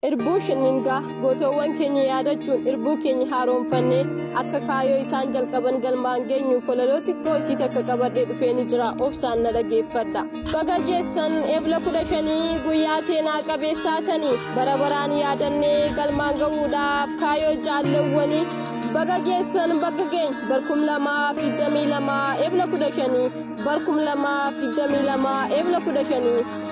Irbuu shinningaa gootoowwan keenya yaadachuun irbuu keenya haaromfannee akka kaayoo isaan jalqaban galmaan geenyuuf walaloo xiqqoo isii takka qabadhee dhufee ni jira obsaan na dhageeffadha. Baga geessan ebla kudha shanii guyyaa seenaa qabeessaa sanii bara baraan yaadannee galmaan gahuudhaaf kaayoo jaalleewwanii baga geessan bakka keenya barkum lamaaf digdamii lamaa ebla kudha shanii barkum lamaaf digdamii lamaa ebla kudha shanii.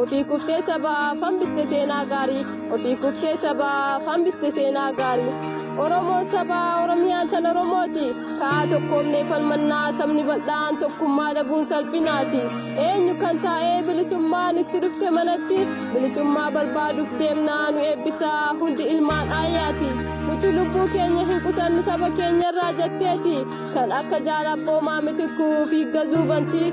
Ofii kuftee sabaaf hambiste seenaa gaarii. Ofii kuftee sabaaf hambiste seenaa gaarii. Oromoon sabaa Oromiyaan tan Oromooti. Ka'aa tokkoomnee falmannaa sabni bal'aan tokkummaa dhabuun salphinaati. Eenyu kan taa'ee bilisummaan itti dhufte manatti bilisummaa barbaaduuf deemnaa nu eebbisaa hundi ilmaan aayaati. Nuti lubbuu keenya hin qusannu saba keenyarraa jetteeti. Kan akka jaalabboomaa mitikkuu fi gazuu bantii.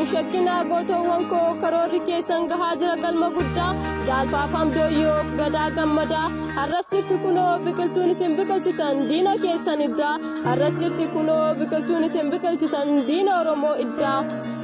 Uf shakkinaa gootoowwan koo karoorri keessan gahaa jira galma guddaa jaalfaafaan dooyyoof gadaa gammadaa har'as jirti kunoo biqiltuun isin biqilchitan diina keessan iddaa har'as jirti kunoo biqiltuun isin biqilchitan diina oromoo iddaa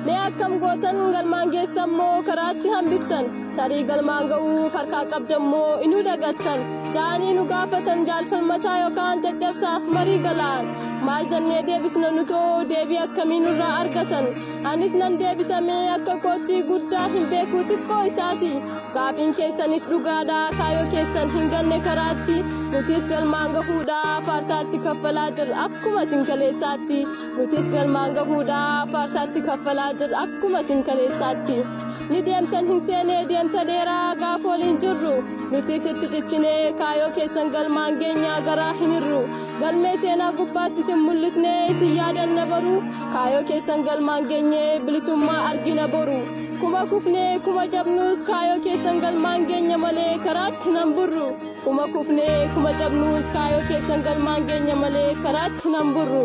mee akkam gootan galmaan geessan moo karaatti hambiftan tarii galmaan ga'uuf harkaa qabdammoo inuu dagattan jaanii nu gaafatan jaalfalmataa yookaan caccabsaaf marii galaan maal jennee deebisna nutoo deebii akkamii nurraa argatan anis nan deebisamee akka koottii guddaa hin beekuu xiqqoo isaati gaafiin keessanis dhugaadha kaayoo keessan hin ganne karaatti nutis galmaan gahuudha faarsaatti kaffalaa jirra akkuma isin kaleessaatti nutis galmaan gahuudha faarsaatti kaffalaa jirra akkuma isin kaleessaatti. ni deemtan hin seenee deemsa dheeraa gaaf waliin jirru nuti sitti cichinee kaayoo keessan galmaan geenyaa garaa hin hirru galmee seenaa gubbaatti sin mul'isnee isin yaadanna baru kaayoo keessan galmaan geenyee bilisummaa argina boru kuma kufnee kuma jabnuus kaayoo keessan galmaan geenya malee karaatti nan burru kuma kufnee kuma jabnuus kaayoo keessan galmaan geenya malee karaatti nan burru.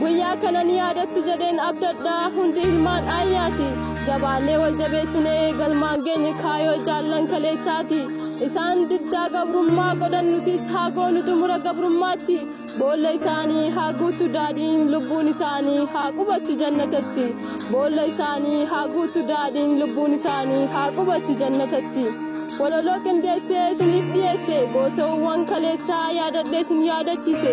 Guyyaa kana ni yaadattu jedheen abdadha hundi ilmaan ayyaati. Jabaannee wal jabeessinee galmaan geenye kaayoo jaallan kaleessaati. Isaan diddaa gabrummaa godhan nutis haa goonu xumura gabrummaatti. Boolla isaanii haa guutu daadhiin lubbuun isaanii haa qubattu jannatatti. Boolla isaanii haa guutu daadhiin lubbuun isaanii haa qubattu jannatatti. Walaloo qindeessee isiniif dhiyeesse gootowwan kaleessaa yaadadhee isin yaadachiise.